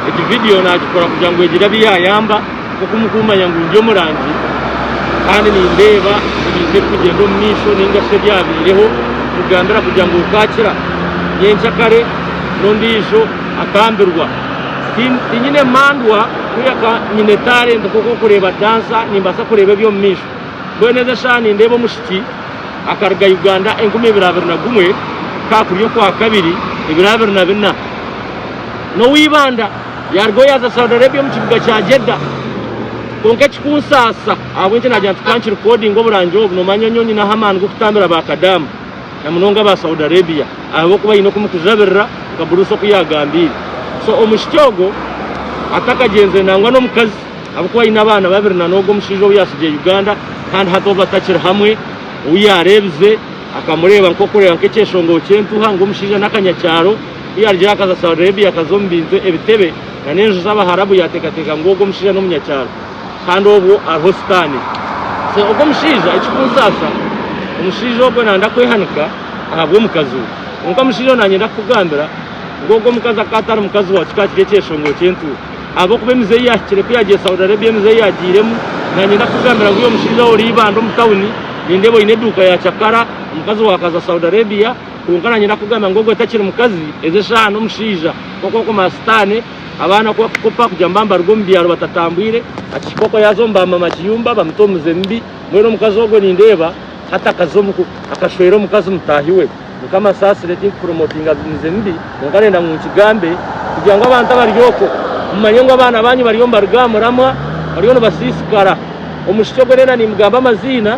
Egi vidiyo naagikora kugira ngu egire abu yaayamba nk'oku murikumanya ngu ndi omurangi kandi nindeeba ebintu ebirikugyenda omu maisho nainga shi ebyabaireho nikugambira kugira ngu okaakira nyenkya kare n'ondiijo akambirwa tinyine mandwa kureka nyine talenti nk'oku orikureeba dansa nimbaasa kureeba eby'omu maisho mbwenu ezi eshaaha nindeeba omushiki akaruga Uganda enkumi ibiri abiri na gumwe ka kuri okwa kabiri ibiri abiri na bina n'owa Ibanda yaaruga oyaaza Saudi Arabia omu kibuga kya Jeddah kwonka ekikunsaasa ahabw'enki naagira nti ka nkirikodinge oburangi obu noomanya nyowe nyineho amaani g'okutambira ba kadaama na munonga aba Saudi Arabia ahabw'okuba haine oku mukujabirira nka Bruce oku yaagambiire so omwishiki ogwo atakagyenzire nangwa n'omukazi ahabw'okuba haine abaana babiri na n'ogwo omushaija ou yaatsigiire Uganda kandi hati obu batakiri hamwe ou yaareebize akamureeba nk'okureeba nk'ekyeshongoro ky'entuha ngu omushaija n'akanyakyaro. Ku yaarugireyo akaza Saudi Arabia, akaza omu bintu, ebitebe, na n'enju z'Abaharabu, yaateekateeka ngu ogwo omushaija n'omunyakyaro, kandi obwo ariho Sitaane. So ogwo omushaija, ekirikunsaasa, omushaija ogwo naayenda kwehanika ahabw'omukazi we. Kwonka omushaija ogwo naanyenda kukugambira ngu ogwo omukazi akaba atari mukazi waawe, kikaba kiri ekyeshongoro ky'entuura. Ahabw'okuba emize ei yaahikire ku yaagiire Saudi Arabia, emize ei yaagiiremu, naanyenda kukugambira ngu iwe omushaija ou ori eibanda omu tauni, nindeeba oine eduuka ya cakara, omukazi waawe akaza Saudi Arabia, Kwonka nanye ndakugamba ngu ogwo otakiri mukazi, ezi eshaaha n'omushaija. Kwonka okomara sitaane, abaana ku bakukopa kugira ngu baba nibaruga omu byaro batatambwire, akihika okwo yaaza omu ba mama kiyumba bamuta omuze mubi. Mbwenu omukazi ogwo nindeeba hati akaza omu ku, akashwera omukazi mutaahi we. Mukama ansaasire tinkupromotinga mize mibi, kwonka ndenda ngu nkigambe kugira ngu abantu abari okwo mumanye ngu abaana baanyu bariyo nibaruga aha muramwa, bariyo nibasiisikara. Omwishiki ogwo ndenda niimugamba amaziina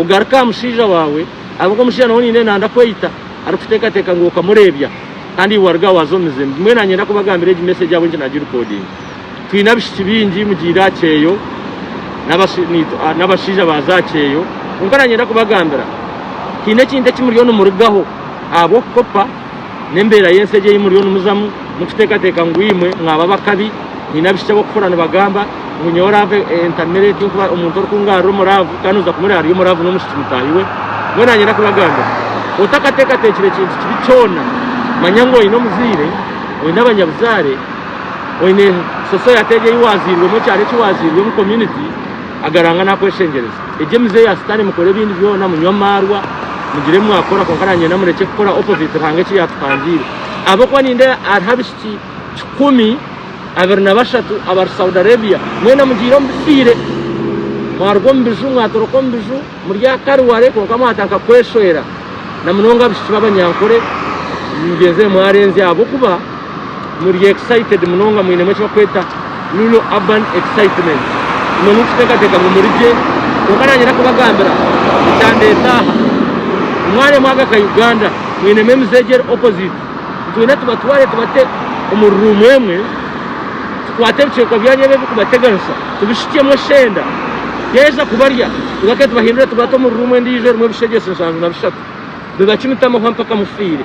Ogaruke aha mushaija waawe, ahabw'oku omushaija nawe niinenda nanda kweyita arikuteekateeka ngu okamureebya kandi iwe waruga waaza omu mizimu. Bumwe naanyenda kubagambira egi meseegi ahabw'enki naagirekodinga. Twine abishiki baingi mugiire aha kyeyo n'abashaija baaza aha kyeyo, kwonka naanyenda kubagambira haine ekintu eki muriyo nimurugaho ahabw'okukopa. n'embeera y'ensi egi ei muriyo nimuzamu, mukiteekateeka ngu imwe mwaba abakabi. Nyine abaishiki ab'okufura nibagamba ngu nyowe laavu entamire eti nkuba omuntu orikungarura omu laavu kandi noza kumureba ari omu laavu n'omwishiki mutaahi we. Mbwenu nanye ndakubagambira, otakateekateekire kintu kibi kyona, manya ngu oine omuzaire, oine abanyabuzaare, oine sosoyate egi ei waazairwemu, ekyaro eki waazairwemu, community, agaranga nakweshengyereza. Egyo emize ya sitani mukore ebindi byona munywe amarwa mugire ebi mwakora kwonka nangenda murekye kukora opposite Ruhanga eki yatupangiire ahabwokuba nindeeba hariho abishiki kikumi abiri na bashatu abari Saudi Arabia mwena mugiire omu bifiire mwaruga omu biju mwatoroka omu biju Muri akari ware kwonka mwatandika kweshwera na munonga abishiki b'abanyankore mugyenzire mwarenzya ahabw'okuba muri excited munonga mwinemu eki bakweta Rural Urban Excitement imwe murikutekateka ngu muri gye kwonka nanye ndakubagambira ekyandeta aha mwaremwaga ka Uganda mwinemu emize egi eri opposite. Twine tubatware tubate omu ruumu emwe, tukwate ebicweka byanyu ebi ebirikubateganisa tubishukyemu eshenda, yaaheza kubarya tugaruke tubahindure tubate omu ruumu endiijo erimu ebishegyese nshanju na bishatu, bibacumite amahwa mpaka mufiire.